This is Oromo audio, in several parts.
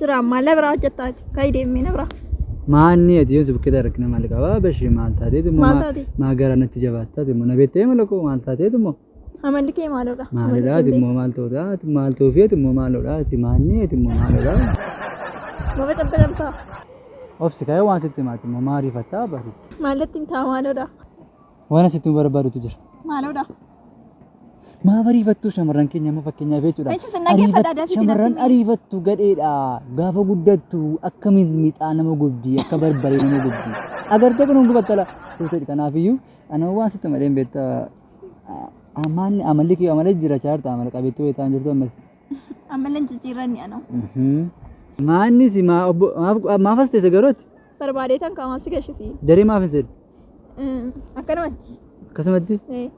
Jira maalla biraa hojjettaati. Ka'i deemee na biraa. Maanni ati yoon si bukkee taate rakkina maal qaba? Bashee maal taateetu immoo Maal maa- taate? maa gara natti jabaattaati immoo na beektee mala koo maal taateetu immoo Amalli kee maalodha? maalidha ati immoo maal ta'uudha ati maal ta'uufi ati immoo maalodha ati maanni ati immoo maalodha Baba cabba cabtaa. obsi ka'ee waan sitti himaati immoo maariifattaa bariitti. Maallatti hin taa maalodha? Waan asitti nu barbaadutu jira. Maaloodha? Maaf ariifattu shamarran keenya amma fakkeenyaaf jechuudha. Eessi sin dhaggeeffadha, dafii dinatti Shamarran mee. ariifattu gadheedha. Gaafa guddattu akka mixmixaa nama gubdi, akka barbaree nama gubdi. Agartee kun gubattala. Suuteedha kanaafiyyuu anoo waan sitti malee hin beekta. Amaan amalli kiyya amalee jira chaarta amala qabeetti wayitaan jirtu ammas. Amalan jijjiirranni ana. Maanni si maa obbo maaf maaf as teesse garootti Barbaadeetan qaamaaf si gashisi. daree maaf hin seenu Akkanumatti. akkasumatti Eh,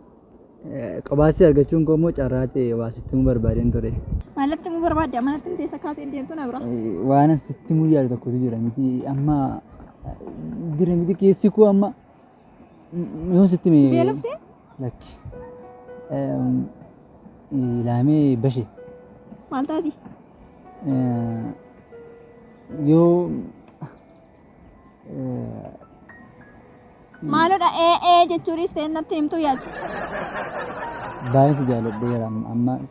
eh, qobaatti argachuun koo immoo carraa ta'e waa sitti himuu barbaadeen ture. Maalatti immoo barbaadde amanatti hin teessa kaatee hin deemtu na bira. Eh, Waan sitti himuu yaadu tokkotu jira miti amma eh, jira miti keessi koo amma Yoon sitti mee. Beelofte? Lakki. Ilaamee bashe. Maal taati? Yoo. Maalodha ee ee jechuunis ta'e natti himtuu yaati. Baay'ee si jaaladheera amma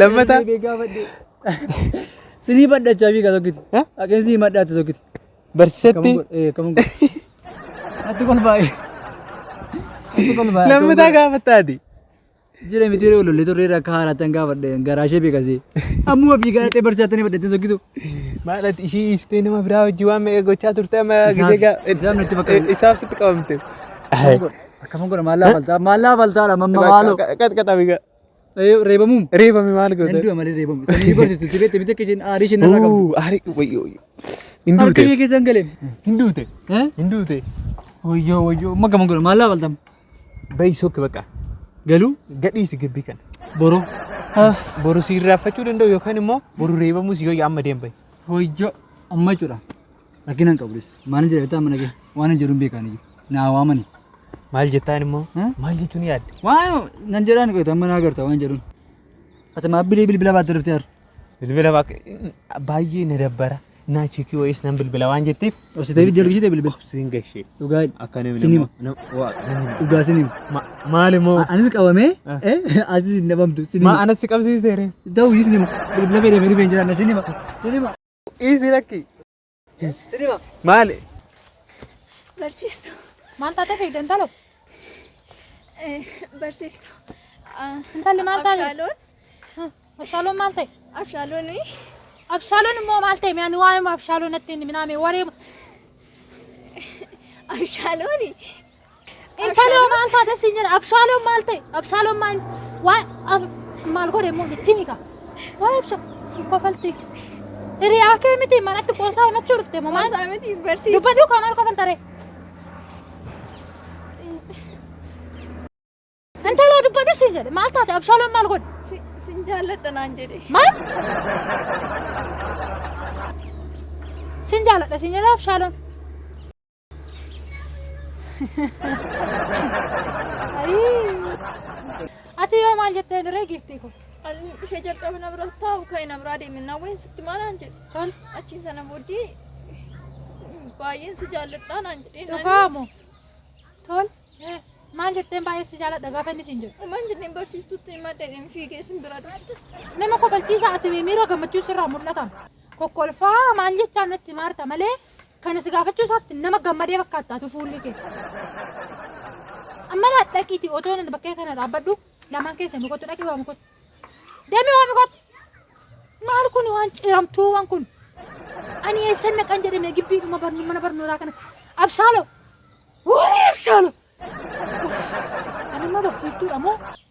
Lammata. Sinii badhachaa fi tokkiti. Haqeen sinii madhaatti tokkiti. Barsiisatti. Atti kol baay'ee. Atti kol baay'ee. Lammataa gaafattaati. Jira miti yeroo lollee turre irra akka haaraattan gaafadhe garaa ishee beekasee. Ammuma fi gaarattee barsiisaattanii badhattee tokkitu. Maadhati ishii dhiistee nama biraa wajjin waan meeqa gochaa turte amma Isaaf- gisee gaa- isaaf natti fakkaata. isaaf sitti qabamte. Akkam godha maal laafaltaa maal laafaltaa dha mamma maaloo. Qaxqaxabi gaa. Reebamuun. Reebame maal Nan goota? du'a malee reebamu. Sanii ni barsiistu. Itti beekte bitte kejeen aarii isheen irraa qabdu. Uu, Aari wayyo wayyo. Hin Harka ishee duute. keessa hin galeen. Hin duute. Eh? Hin duute. Wayyoo wayyoo. Amma gaman godha. Maallaa baltam. Bayi sokke bakka. Galuu. Gadhiisi gibbii kana. Boroo. As. Boru si irraanfachuu danda'u yookaan immoo boru reebamuu si yoo amma deembayi. Wayyoo. Amma jechuudha. Rakkina hin qabu dhis. Maalin jedha beektaa amma dhagee? Waan hin jedhuun beekaan iyyuu. Naa waamani. Maal jettaan immoo? Hä? Maal jechuun yaadde? Waan nan jedhaan qoyta amma naa garta waan jedhuun. Ati maa bilii bilbila baatte dhufte har'a? Bilbila baak- baay'ee na dabbara. Naa chikii wayiis nan bilbila waan jetteef. Obsitee biddi argisitee bilbila. Siin gashee. Dhugaa Akka namni sinima. nama- nama- waa- nama hin- Dhugaa sinima. Ma- Maal immoo? A- Anis qabamee Ah. eh, atis hin dhabamtu Maa sinima. anatti qabsiisteere? Ta'u iyyuu sinima. Bilbila fayyadamee dhufee hin jiraanne sinima. Sinima. Dhiisi lakki. Maali? Barsiistu. Maal taatee fiigde intalo? Barsiistu. Intalli maal taate? Abshaaloon. Abshaaloon maal ta'e? Abshaaloon. Abshaaloon immoo maal ta'e? Ani waa'ee abshaaloon natti hin minaa mee waree. Abshaaloon Intaloo maal taate siin jedha abshaaloon maal ta'e abshaaloon maal waa ab- maal godhe immoo itti mika waa ibsa hin kofalti hiriyaa kee miti manatti qoosaa himachuu dhufte moo maal Qoosaa miti barsiisa. dubbaduu koo maal kofaltare intaloo dubbaduu siin jedhe maal taate abshaaloon maal godhe Si- Sin jaalladha naan jedhe. maal siin jaaladha siin jedha abshaaloon Ati yoo maal jetteen ree giiftii kun? Ani ishee jalqaba na bira taa'u ka'e na biraa deeme na wayii sitti maalaan jedhe. Tol. Achiin sana booddee baay'een si jaalladhaa naan jedhee naan Dhugaa moo? Tol. Maal jetteen baay'ee si jaaladha gaafa inni siin jedhu? Maal jenneen barsiistutti maddeedhaan fiigee sin bira dhufte. Nama kofalchiisa ati miira gammachuun sirraa mul'atan. Kokkolfaa maal jechaa natti maarta malee Kana si gaafachuu isaatti nama gammadee fakkaatta atu fuulli kee. Amma laa dhaqiiti otoo nan bakkee kana dhaabbadhu lamaan keessan kottu dhaqi waami kottu. Deemi waami kottu. Maal kun waan ciramtuuwwan kun. Ani eessan naqan jedhame gibbii dhuma barnu mana barnootaa kana. Abshaalo. Woolee abshaalo. Ani immoo barsiistuudha moo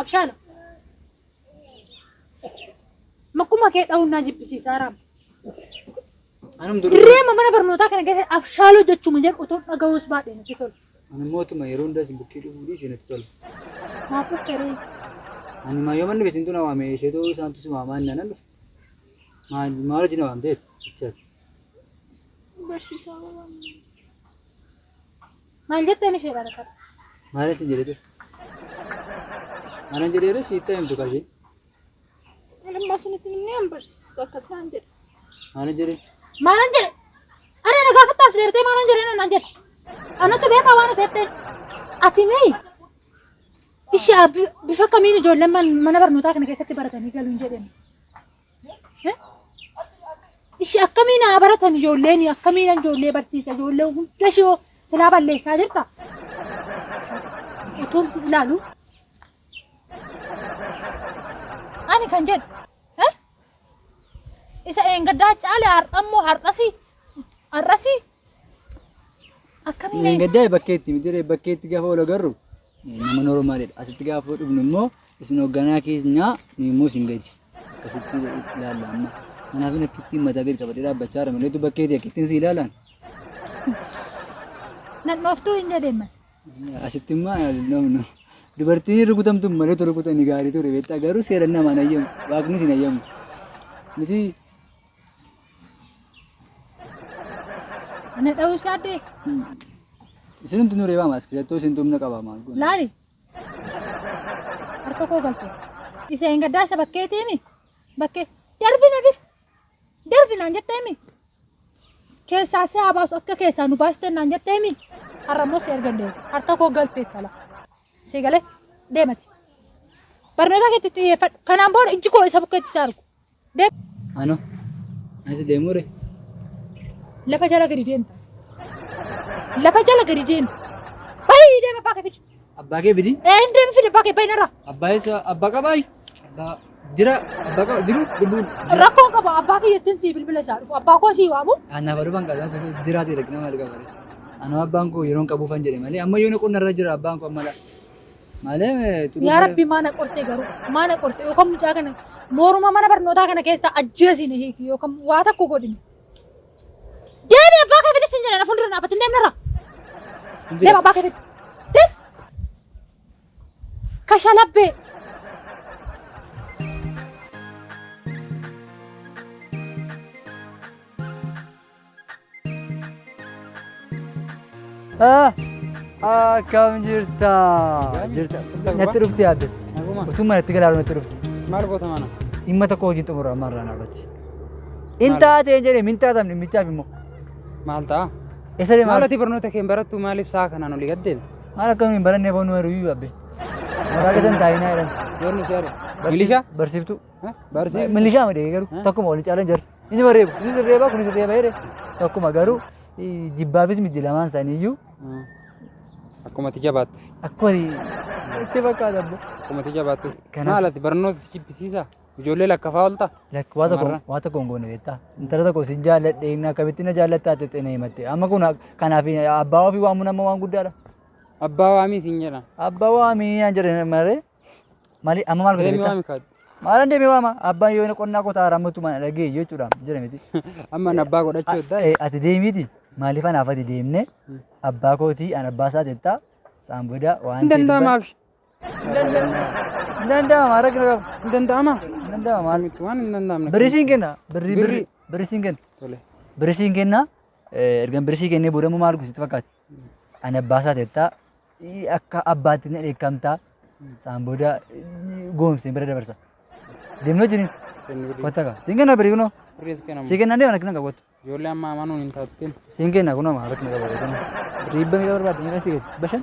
Abshaalo. Makkuma kee dha'uun naa jibbisiisa haraam. Anum duruu Dirree amma mana barnootaa kana keessatti abshaaloo jechuun jedhu otoo dhaga'uus baadhee natti tola. ani mootuma yeroo hundaa isin bukkee dhufuu dhiisee natti tola. Naaf dhufte ree. Ani maa yoo manni beesintu na waame isheetu isaantu si waamaa inni anan dhufe. Maal maal hojii na waamteef? Ichaas. Barsiisaa waan. Maal jetteen isheedha rakkatte? Maalan sin jedhe ture? Maalan jedheera siitti himtu kaa isheen. Anammaa isinitti himnee hin barsiistu akkas naan jedhe. Maalan jedhe? Maalan jedhe? Ana na gaafatta as deebitee maalan jedhe naan jedhe. Anatu beekaa waan ati jetteen. Ati mee ishee bifa kamiin ijoolleen mana barnootaa kana keessatti baratanii galuun jedhani. Ishi akkamiin haa baratan ijoolleen akkamiin ijoollee barsiisa ijoollee hunda ishee silaa balleessaa jirta. Utuun si ilaalu. Ani kan jedhu eh? isa eengaddaa caale har'ammoo har'asi har'asi akkamiin Gaddaa bakkeetti miti bakkeetti gaafa wal agarru nama noormaaliidha. Asitti gaafa dhufnu immoo isin hoogganaa keenyaa nu immoo isin gadi akkasitti ilaalla amma. Kanaaf inni akkittiin mataa gadi qabadhee dhaabbachaa jira malee bakkeetii akkittiin si ilaalaan. Nadhooftuu hin jedhee mati. Asitti immoo namnu dubartiin rukutamtu malee tu rukutan gaarii ture beektaa garuu seeran namaan ayyamu waaqni isin ayyamu. Miti Ana dha'uu isaa addee Isinumti nu reebama as keessattuu isintu humna qaba maal goona. laali. Harka koo galte. Isa hin gaddaa isa bakkeetii himi. Bakkee darbi na bir. Darbi naan jettee himi. Keessaa si haa baasu akka keessaa nu baastee naan jettee himi. Har'a immoo si ergan deema. Harka koo galte tala. Si galee deemati. Barnoota keetti xiyyeeffadhu. Kanaan booda ijji koo isa bukkeetti si argu. Ano. Asi demure. Lafa jala gadi deemta. Lafa jala gadi deemta. Bayi deema abbaa kee fidi. Abba ke bidi. Ee hin deemi fidi abbaa kee bayi narraa. Abba isa abba qabai. Abba jira abba qaba jiru dubu. Rakkoon qaba abbaa kee jettiin sii bilbila isaa dhufu abbaa koo sii waamu. Ana baru bang kaza tu jira ti dak nama lika bari. Ano abba ko yeron kabu fan jere mali. Amma yoni kun narra jira abba ko mala. Maalee xuduu Yaa rabbi maana qorte garuu maana qorte yookaan mucaa kana mooruma mana barnootaa kana keessa ajjeesiin hiiki yookaan waa takko godhine. Deemi abbaa kee fidis hin jedhan fuuldura dhaabbatin deemni irra. Deema abbaa kee fidi. Deem. Kashalabbee. Ah, Akkam jirta? Jirta. Natti dhufti yaadde. Naguma. Utuu manatti galaalu natti dhufti. Maal goota mana? Dhimma tokko hojiin xumura amma irraa naafatti. Hin Maal? taateen jedhee hin taatan dhimmichaaf immoo. Maal ta'a? Eessa deemaa? Maal ati barnoota kee hin barattu maaliif sa'a kanaan olii gad deema? Maal akkamiin hin barannee foon numeeru iyyuu abbe. Maqaa keessan taa'inaa jedhan. Yoon nuti yaadu. Milishaa? Barsiiftuu. Barsiif. Milishaa ma deegee garuu Hah? tokkuma waliin caalan jira. Inni mareebu. Inni sirreeba kun sirreeba jedhe tokkuma garuu eh, jibbaafis miti lamaan isaanii iyyuu Akkuma itti jabaattuuf. akkuma itti fakkaata abbo. Akkuma itti jabaattuuf. Kanaaf- Maal ati barnoota si jibbisiisa? Ijoollee lakkafaa oolta? Lakki waa tokko Shamarran. waa tokko hin goone beektaa. Intala tokko sin jaalladhe inni akkamitti na jaallattaa jettee na himatte. Amma kun ak- kanaaf abbaa ofii waamuun amma waan guddaadha. Abbaa waamii siin jedhan. Abbaa waamii naan jedhan malee Mali amma maal godhe Deemi beektaa? waami kaadhi. Maalan deemee waama abbaan yoo inni qonnaa qotaa raammattu mana dhagee jechuudha jira miti. Amma na abbaa godhachuu eddaa. Eh, Ati deemiiti maaliif anaaf ati deemne abbaa kootii an abbaa isaa jettaa saan booda waan Hin danda'ama abshi. Hin danda'ama rakkina qaba. Hin danda'ama. Hin danda'ama maal. Maalumatti waan hin danda'amne. Birrii siin kenna. Birrii Birrii. birrii birrii siin kenna. Tole. Birrii siin kenna. Eh, Ergan birrii sii kennee booda immoo maal gosi sitti fakkaate? Ani abbaa isaa ta'etta. Akka abbaatti na dheekkamta. Saan booda goomseen bira dabarsa. Deemnoo jiniin. Kotta kaa. Siin kenna birii kunoo. Siin kenna deeman akkana qabu. Ijoollee amma amanuun hin taatteen. Siin kenna kunoo maa akkana qabu. Riibba miidhaa barbaadde miidhaa sii gadi. Bashan.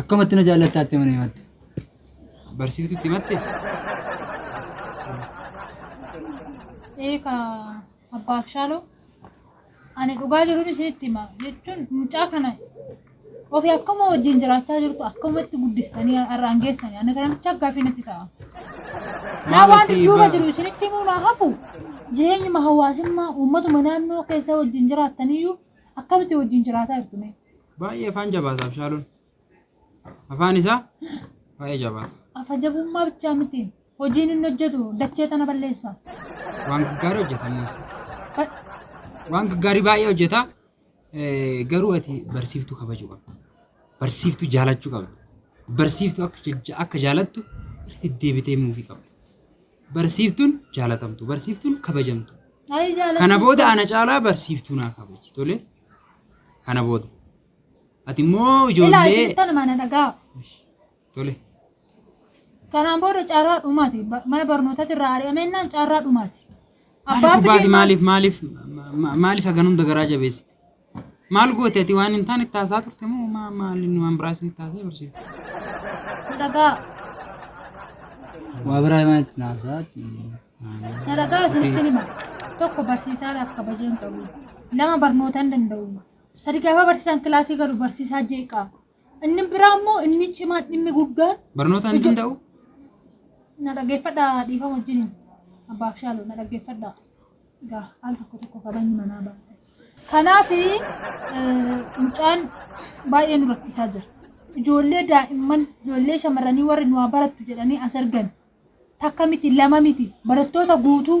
Akkamatti na jaallattaa itti mana himatte? Barsiiftu itti himatte? Eeka abbaa Abshaaloo ani dhugaa jiruun isinitti hima jechuun mucaa kana ofii akkuma wajjin jiraachaa jirtu akkumatti guddistanii har'aan geessanii ani kana muchaa gaaffii natti ta'a. Naa waan Maatii duuba ba- jiru isinitti himuu naa hafu jireenyuma hawaasummaa uummatuma naannoo keessa wajjin jiraattaniyyuu Akkamitti wajjin jiraataa jirtu mee? Baay'ee afaan jabaata Abshaaloon. Afaan isaa baay'ee jabaata. Afa jabummaa bichaa miti. Hojiin inni hojjetu dachee tana balleessa. Waan gaggaarii hojjeta Muusa. Ba- Waan gaggaarii baay'ee hojjeta. Eh, Garuu ati barsiiftuu kabajuu qabda. Barsiiftuu jaalachuu qabda. Barsiiftuu akka jajja- akka jaalattu irratti deebitee muufii qabda. Barsiiftun jaalatamtu. Barsiiftun kabajamtu. Ayi jaalatu. Kana booda ana caalaa barsiiftuu naa kabaji. Tole? Kana booda. Ati immoo Ilaa ijoollee... isin tana mana dhagaa. Tole. Kanaan booda carraa dhumaati. Ba- Mana barnootatti irraa ari'amennaan carraa dhumaati. Maaliif Abbaa fi gubbaati? deemaa- Maaliif maaliif ma- ma- maaliif hagan hunda garaa jabeessite? Maal goote ati waan hin taane itti haasaa turte moo maa maaliin waan biraa isinitti haasee barsiifte? Na dhagaa. Waa biraa himaa itti haasaa. Na dhagaa isinitti hima. Tokko barsiisaadhaaf kabajeen qabu. Lama barnoota hin danda'u. Sadi gaafa barsiisaan kilaasii galu barsiisaa jeeqaa. Inni biraa immoo inni cimaan dhimmi guddaan Barnootaan hin danda'u? na dhaggeeffadha dhiifama wajjin abbaa abshaaloo na dhaggeeffadha. Egaa al tokko tokko kabajni manaa ba'a. Kanaaf mucaan baay'ee nu rakkisaa jira. Ijoollee daa'imman ijoollee shamarranii warri nu haa barattu jedhanii as ergan takka miti lama miti barattoota guutuu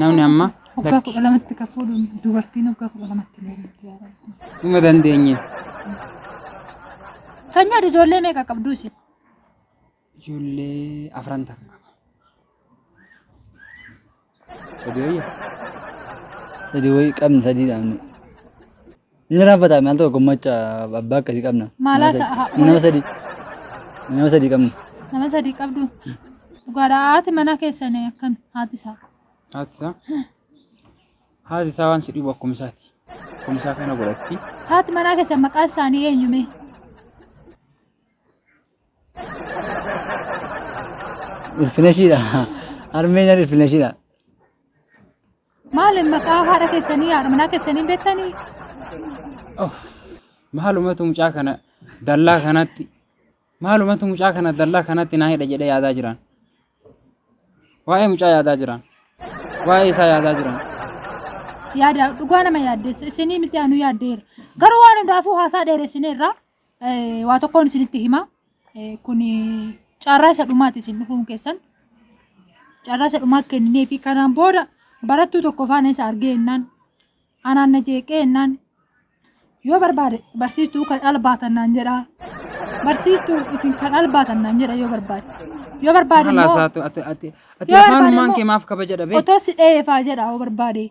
Namni amma Waggaa kudha lamatti kan fuudhu dubartiin waggaa kudha lamatti illee jirti yaa Rabbi. dhuma dandeenye. Kan nyaatu ijoollee meeqa qabdu isin? Ijoollee afran takka qaba. Sadii wayya. Sadii wayii qabna sadii dhaabne. Inni raaffataa maal tokko macha abbaa akkasii qabna. Maalaa Nama sa'a- sadii- Nama sadii. Nama sadii qabna. Nama sadii qabdu. Dhugaadhaa haati manaa keessan akkami haati isaa. Haati isaa. Haati isaa waan si dhibu akkuma isaati. Akkuma isaa kana godhatti. Haati manaa keessan maqaa isaanii eenyume? Ilfineshiidha. Harmeen ilfineshiidha. Maal maqaa haadha keessanii haadha manaa keessanii hin beektanii? Oh, maalumatu mucaa kana dallaa kanatti maalumatu mucaa kana dallaa kanatti naa hidha jedhee yaadaa jiran. Waa'ee mucaa yaadaa jiran. Waa'ee isaa yaadaa jiran. Yaada dhugaa nama yaaddeessa. Isinii miti anu yaaddeera. Garuu waan hundaafuu haasaa dheeressineerra. Waa tokkoon isinitti hima. Kun carraa isa dhumaati isin dhufuun keessan. Carraa isa dhumaa kennee fi kanaan booda barattuu tokko faana isa argee jennaan anaan na jeeqee jennaan yoo barbaade barsiistuu kan albaatan naan jedhaa. Barsiistuu isin kan albaatan naan jedha yoo barbaade. Yoo barbaade Haala immoo isaatu ati ati ati Yoo afaanumaan barbaade kee maaf kabaja dhabee? otoo si dheefaa jedha yoo barbaade.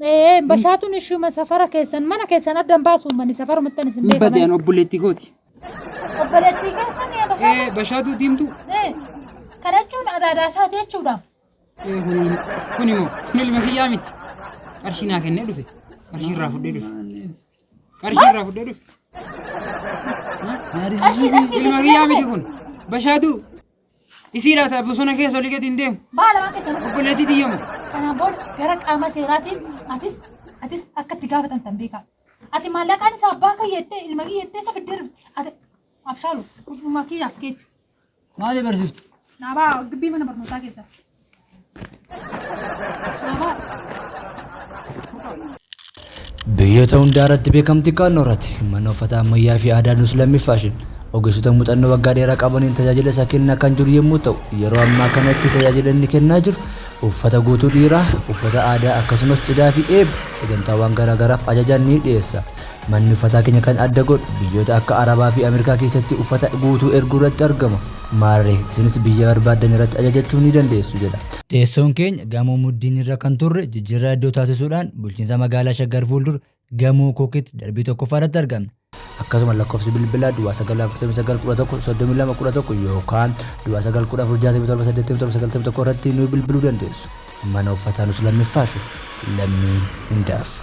Ee, bashaatuun ishuma safara keessan mana keessan addan baasu uummanni safarumattan isin Hin badeen beekaman. obboleettii kooti. Obboleettii keessan yaa bashaatu. Ee, Bashaatuu diimtuu. Ee, kana jechuun adaadaa isaati jechuudha. Ee, kun kun immoo kun ilma kiyyaa miti. Qarshii naa kennee dhufe. Qarshii irraa fudhee dhufe. Qarshii irraa fudhee dhufe. Qarshii dhabsiisee Ilma kiyyaa miti kun. Bashaatuu. Isii laata bosona keessa olii gadi hin deemu. Baala waan keessa dhufu. Obboleettii tiyyamu. Kanaan booda gara qaama seeraatiin atis atis akka itti gaafatamtan beekaa. Ati maallaqaan isaa abbaa kiyya jettee ilma kiyya jettee isa fiddee dhufte. Ati abshaalu dhuma kiyyaaf keetti. Maali barsiiftu? Dhaabaa gibbii mana barnootaa keessa. Biyyoota hundaa irratti beekamtii kaannoo irratti mana uffata ammayyaa fi aadaa nus lammii faashin ogeessota muuxannoo waggaa dheeraa qabaniin tajaajila isaa kennaa kan jiru yommuu ta'u yeroo ammaa kanatti tajaajila inni kennaa jiru uffata guutuu dhiiraa uffata aadaa akkasumas cidhaa fi eebba sagantaawwan garaagaraaf ajajaan ni dhiyeessa. Manni uffataa keenya kan adda godhu biyyoota akka Arabaa fi Ameerikaa keessatti uffata guutuu erguu irratti argama. Maarree, isinis biyya barbaaddan irratti ajajachuu ni dandeessu, jedha. Teessoon keenya Gamoo Muddiin irra kan turre jijjiirraa iddoo taasisuudhaan Bulchiinsa Magaalaa Shaggar fuuldura Gamoo Kookitti darbii tokkoffaa irratti argamna. Akkasuma lakkoofsi bilbilaa duwwaa 9 49 11 32 11 yookaan duwwaa 9 14 67 87 91 irratti nu bilbiluu dandeessu. Mana uffataa nus lammiffaashu. Lammii hundaaf.